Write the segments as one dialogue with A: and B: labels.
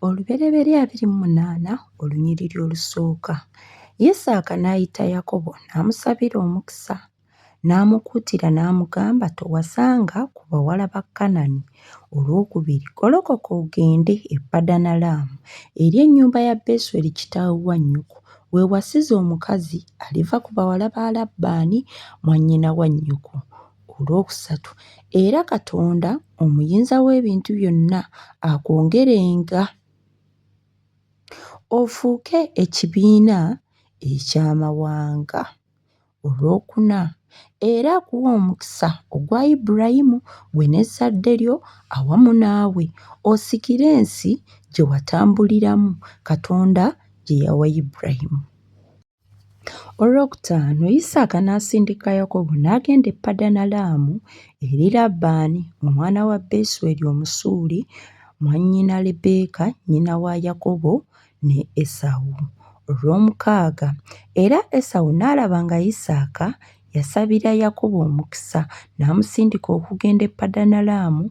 A: Olubereberye abiri mu munaana olunyiriri olusooka, Yisaaka n'ayita Yakobo n'amusabira omukisa, n'amukuutira n'amugamba, Towasanga ku bawala ba Kanani. Olwokubiri, golokoka ogende e Padanalaamu eri ennyumba ya Besweri kitaawe wa nnyoko, weewasize omukazi aliva ku bawala ba Labbaani mwannyina wa nnyoko. Ku lw'okusatu, era Katonda omuyinza w'ebintu byonna akwongerenga ofuuke ekibiina eky'amawanga. Olw'okuna, era akuwe omukisa ogwa Ibulayimu, ggwe n'ezzadde lyo awamu naawe, osikire ensi gye watambuliramu Katonda gye yawa Ibulayimu. Olwokutaano Yisaaka n'asindika Yakobo n'agenda e Padanalaamu eri Labbaani omwana wa Besweri Omusuuli, mwannyina Lebbeeka nnyina wa Yakobo ne Esawu. Olwomukaaga Era Esawu n'alaba nga Yisaaka Yasabira Yakubu omukisa n'amusindika okugenda e Padanalaamu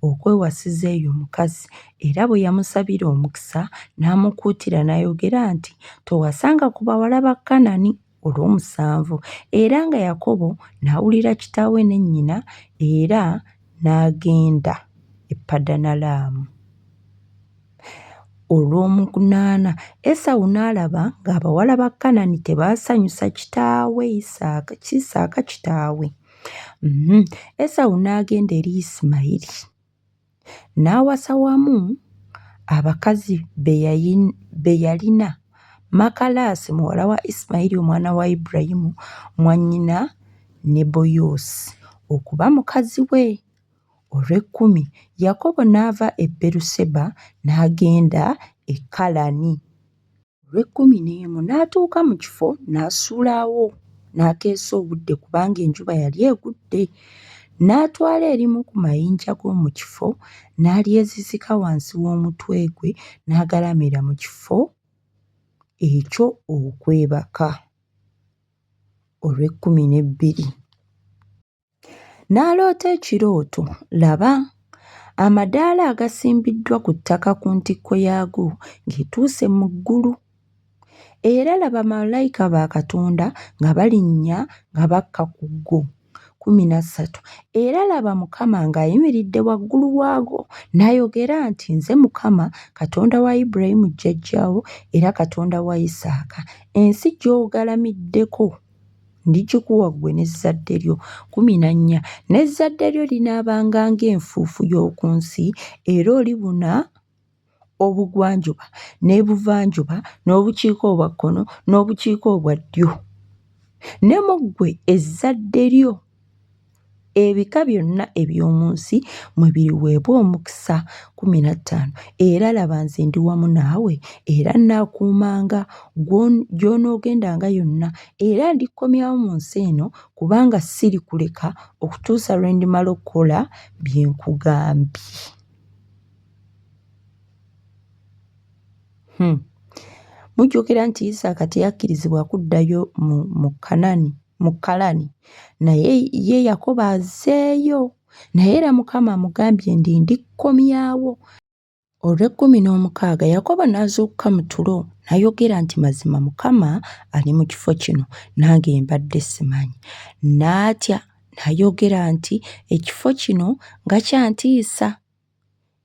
A: okwewasiza eyo omukazi, era bwe yamusabira omukisa n'amukuutira n'ayogera nti, Towasanga ku bawala ba Kanani olw'omusanvu. Era nga Yakobo n'awulira kitaawe ne nnyina era n'agenda e Padanalaamu. Olw'omunaana, Esawu n'alaba ng'abawala ba Kanani tebaasanyusa kitaawe Isaaka, Isaaka kitaawe. Mhm. Esawu n'agenda eri Isimayiri n'awasa wamu abakazi be yalina Makalaasi muwala wa Isimayiri omwana wa Ibulayimu mwannyina Neboyosi okuba mukazi we. olw'ekkumi, Yakobo n'ava e Beeruseba n'agenda e Kalani. Olw'ekkumi n'emu n'atuuka mu kifo n'asuulawo n'akeesa obudde kubanga enjuba yali egudde. N'atwala erimu ku mayinja g'omu kifo n'alyezizika wansi w'omutwe gwe n'agalamira mu kifo ekyo okwebaka. Olw'ekkumi n'ebbiri. N'aloota ekirooto, laba, amadaala agasimbiddwa ku ttaka ku ntikko yaago ng'etuuse mu ggulu. Era laba bamalayika ba Katonda nga balinnya nga bakka ku go. kkumi na ssatu era laba mukama ng'ayimiridde waggulu waago n'ayogera nti nze mukama katonda wa ibulayimu jjajjaawo era katonda wa isaaka ensi gy'ogalamiddeko Ndigikuwa ggwe n'ezzadde lyo. Kumi na nnya. N'ezzadde lyo linaabanga ng'enfuufu y'oku nsi, era olibuna obugwanjuba n'ebuvanjuba n'obukiika obwa kkono n'obukiika obwa ddyo. Ne mu ggwe ezzadde lyo. Ebika byonna eby'omu nsi mwe biriweebwa omukisa kkumi na ttaano, era laba nze ndi wamu naawe, era nnaakuumanga gy'onoogendanga yonna, era ndikukomyawo mu nsi eno, kubanga sirikuleka okutuusa lwe ndimala okukola bye nkugambye. Hmm. Mujjukira nti Isaaka teyakkirizibwa kuddayo mu Kanani. mu kalani naye ye yakoba azeeyo naye era mukama amugambye ndi ndikkomyawo olw'ekkumi n'omukaaga yakobo n'azuukuka mu tulo n'ayogera nti mazima mukama ali mu kifo kino nange mbadde simanyi n'atya n'ayogera nti ekifo kino nga kyantiisa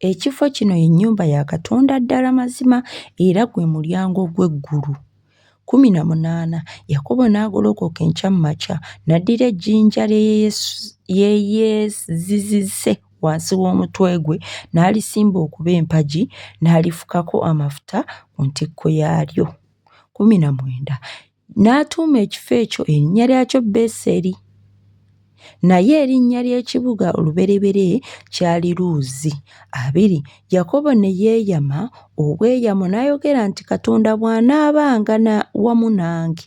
A: Ekifo kino ye nnyumba ya Katonda ddala mazima era gwe mulyango gw'eggulu. Kkumi na munaana, Yakobo n'agolokoka enkya mu makya n'addira ejjinja lye yeezizize wansi w'omutwe gwe n'alisimba okuba empagi n'alifukako amafuta ku ntikko yaalyo. Kkumi na mwenda, N'atuuma ekifo ekyo erinnya lyakyo Beseri. Naye erinnya ly'ekibuga olubereberye kyali Luuzi. Abiri, Yakobo ne yeeyama obweyamo n'ayogera nti, Katonda bw'anaabanga wamu nange,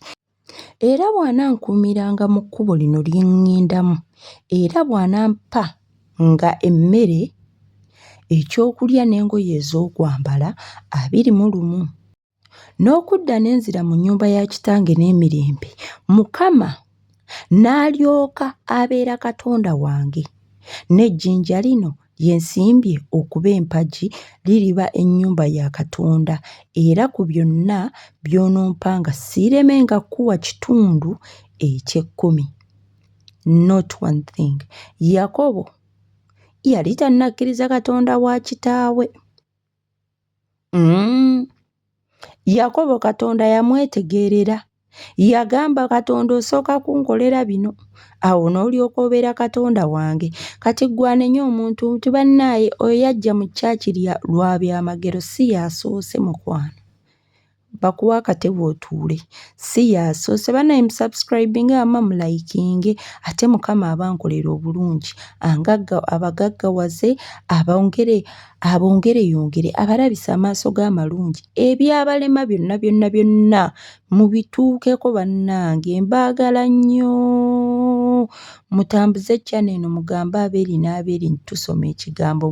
A: era bw'anankuumiranga mu kkubo lino lye ŋŋendamu, era bw'anampa nga emmere, ekyokulya n'engoye ez'okwambala, abiri mu lumu. n'okudda ne nzira mu nnyumba ya kitange n'emirembe mukama n'alyoka abeera katonda wange n'ejjinja lino lye nsimbye okuba empagi liriba ennyumba ya katonda era ku byonna by'onompanga siiremenga kukuwa kitundu eky'ekkumi not one thing yakobo yali tannakkiriza katonda wa kitaawe Mm. Yakobo Katonda yamwetegeerera. Yagamba Katonda osooka kunkolera bino. Awo n'olyoka obeera Katonda wange. Kati gwanenya omuntu nti bannaaye oyo yajja mu kyaki lwa byamagero si yaasoose mukwano. bakuwa akatebe otuule si yasoose banaye musubscribinge ama mulayikinge ate mukama abankolera obulungi angagga abagaggawaze abongere abongere yongere abalabisa amaaso g'amalungi ebyabalema byonna byonna byonna mubituukeko bannange mbaagala nnyo mutambuze channel eno mugambe abeeri n'abeeri nti tusoma ekigambo